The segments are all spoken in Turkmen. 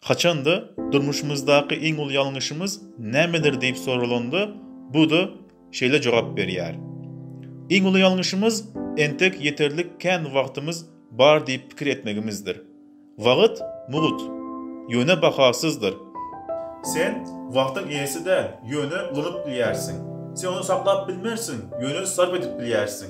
Haçanda durmuşymyzdaky iň uly ýalňyşymyz nämedir diýip soralanda, Buda şeýle jogap berýär, Iň uly ýalňyşymyz entek ýeterlik kän wagtymyz bar diýip pikir etmegimizdir. Wagt mugt, ýöne bahasyzdyr. Sen wagtyň eýesi däl, ýöne ulanyp bilýärsiň. Sen ony saklap bilmersiň, ýöne sarp edip bilýärsiň.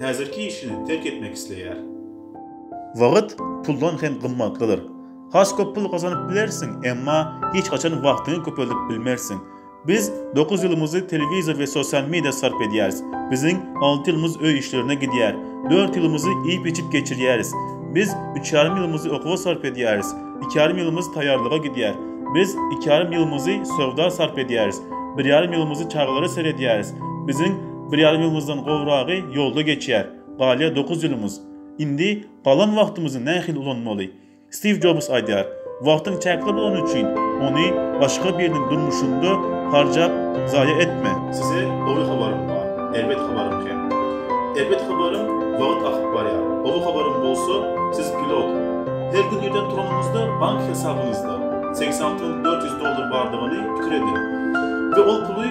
häzirki işini terk etmek isleýär. Wagt puldan hem gymmatlydyr. Has köp pul gazanyp bilersiň, emma hiç haçan wagtyňy köpeldip bilmersiň. Biz dokuz ýylymyzy telewizor we sosial media sarp edýäris. Biziň alty ýylymyz öý işlerine gidýär. Dört ýylymyzy iýip-içip geçirýäris. Biz üç ýarym ýylymyzy okuwa sarp edýäris. Iki ýarym ýylymyz taýýarlyga gidýär. Biz iki ýarym ýylymyzy söwda sarp edýäris. Bir ýarym ýylymyzy çagalara seredýäris. Biziň Bir ýarym ýylymyzdan gowragy ýolda geçýär, galýar dokuz ýylymyz. Indi galan wagtymyzy nähili ulanmaly? Stiw Jobs aýdýar, Wagtyň çäkli bolany üçin, ony başga biriniň durmuşynda harjap zaýa etme. Size gowy habarym bar, erbet habarym hem. Erbet habarym, wagt akyp barýar. Gowy habarym bolsa, siz pilot. Her gün irden turanyňyzda bank hesabyňyzda segsen alty müň dört ýüz dollar bardygyny pikir ediň we ol puly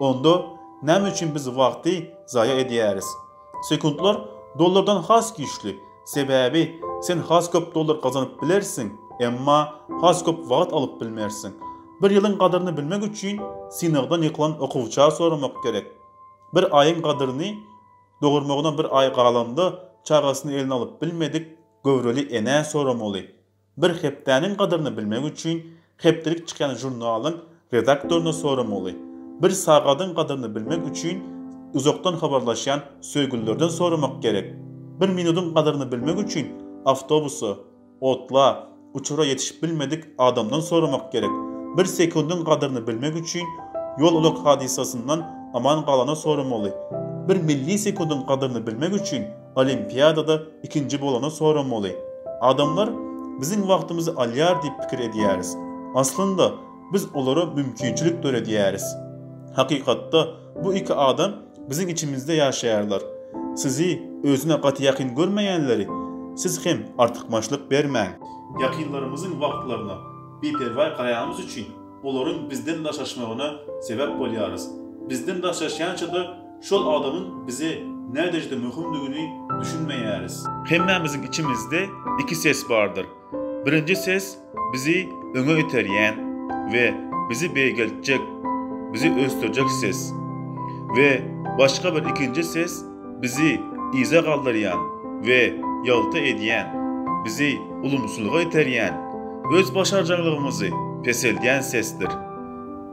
Onda näme üçin biz wagty zaýa edýäris? Sekuntlar dollardan has güýçli, sebäbi sen has köp dollar gazanyp bilersiň, emma has köp wagt alyp bilmersiň. Bir ýylyň gadyryny bilmek üçin synagdan ýykylan okuwça soramak gerek. Bir aýyň gadyryny Dogurmagyna bir aý galanda çagasyny eline alyp bilmedik göwreli enä soramaly. Bir hepdäniň gadyryny bilmek üçin hepdelik çykýan žurnalyň redaktoryna soramaly. Bir sagadyň gadyryny bilmek üçin uzakdan habarlaşýan söýgülilerden soramak gerek. Bir minudyň gadyryny bilmek üçin awtobusa, otla, uçara ýetişip bilmedik adamdan soramak gerek. Bir sekundyň gadyryny bilmek üçin ýol-ulag hadysasyndan aman galana soramaly. Bir millisekundyň gadyryny bilmek üçin Olimpiadada ikinji bolana soramaly. Adamlar biziň wagtymyzy alýar diýip pikir edýäris. Aslynda biz olara mümkinçilik döredýäris. Hakykatda bu iki adam biziň içimizde ýaşaýarlar. Sizi özüne gaty ýakyn görmeýänleri siz hem artykmaçlyk bermäň. Ýakynlarymyzyň wagtlaryna biperwaý garaýanymyz üçin olaryň bizden daşaşmagyna sebäp bolýarys. Bizden daşaşýança-da Şol adamyň bize näderejede möhümdigini düşünmeýäris. Hemmämiziň içimizde iki ses bardyr. Birinji ses bizi öňe iterýän we bizi beýgeltjek, bizi ösdürjek ses. We başga bir ikinji ses bizi yza galdyrýan we ýalta edýän, bizi ulumsylyga iterýän, özbaşarjaňlygymyzy peseldýän sesdir.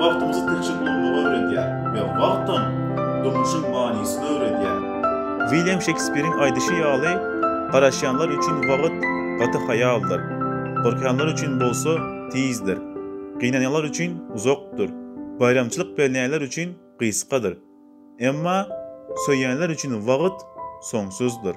Wagtymyzy tilçek ulamagy öwredýär we wagtam durmuşyň manysyny öwredýär. Wilýam Şekspiriň aýdyşy ýaly, garaşýanlar üçin wagt gaty haýaldyr, gorkýanlar üçin bolsa tizdir, gynanýanlar üçin uzakdyr, baýramçylyk berýänler üçin gysgadyr, emma söýýänler üçin wagt soňsuzdyr.